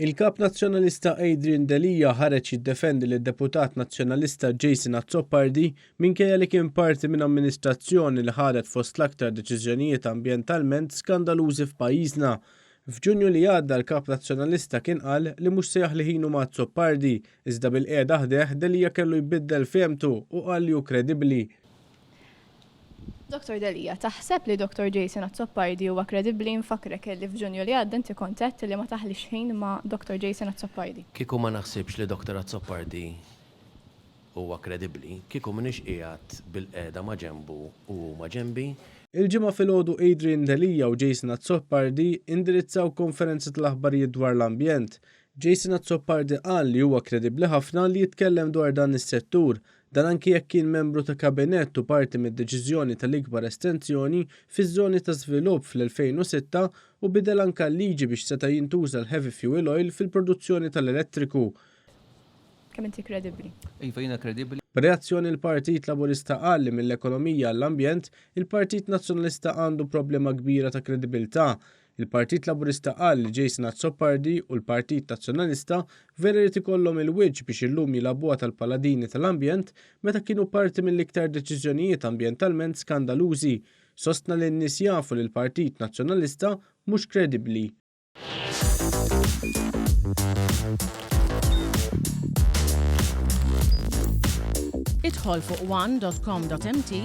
Il-Kap Nazzjonalista Adrian Delia ħareġ jiddefendi lid deputat Nazzjonalista Jason Azzopardi minkejja li kien parti minn amministrazzjoni li ħadet fost l-aktar deċiżjonijiet ambjentalment skandalużi f'pajjiżna. F'Ġunju li għadda l-Kap Nazzjonalista kien qal li mhux se jaħli ħinu ma' Azzopardi, iżda bil-qiegħda ħdejh Delia kellu jbiddel fehmtu u qal li hu kredibbli. Dottor Delia, Taħseb li Dottor Jason Azzopardi huwa kredibbli? Infakkrek illi f'Ġunju li għadda inti kont għedt illi ma taħlix ħin ma' Dottor Jason Azzopardi. Kieku ma naħsibx li Dottor Azzopardi huwa kredibbli, kieku m'iniex qiegħed bilqiegħda ma' ġenbu u hu ma' ġenbi. Il-Ġimgħa filgħodu Adrian Delia u Jason Azzopardi indirizzaw konferenza tal-aħbarijiet dwar l-ambjent. Jason Azzopardi qal li huwa kredibbli ħafna li jitkellem dwar dan is-settur Dan anki jekk kien membru ta' kabinett u parti mid-deċiżjoni tal-ikbar estensjoni fiż-żoni ta' żvilupp fl-2006 u bidel anka l-liġi biex seta' jintuża l-heavy fuel oil fil-produzzjoni tal-elettriku. Kemm inti kredibbli? Iva, jiena kredibbli. B'reazzjoni il-Partit Laburista qal li mill-ekonomija għall-ambjent, il-Partit Nazzjonalista għandu problema kbira ta' kredibilità. Il-Partit Laburista qal li Jason Azzopardi u l-Partit Nazzjonalista vera jrid ikollhom il-wiċċ biex illum jilagħbuha tal-paladini tal-ambjent meta kienu parti mill-iktar deċiżjonijiet ambjentalment skandalużi. Sostna li n-nies jafu li l-Partit Nazzjonalista mhux kredibbli. Idħol fuq one dot com dot mt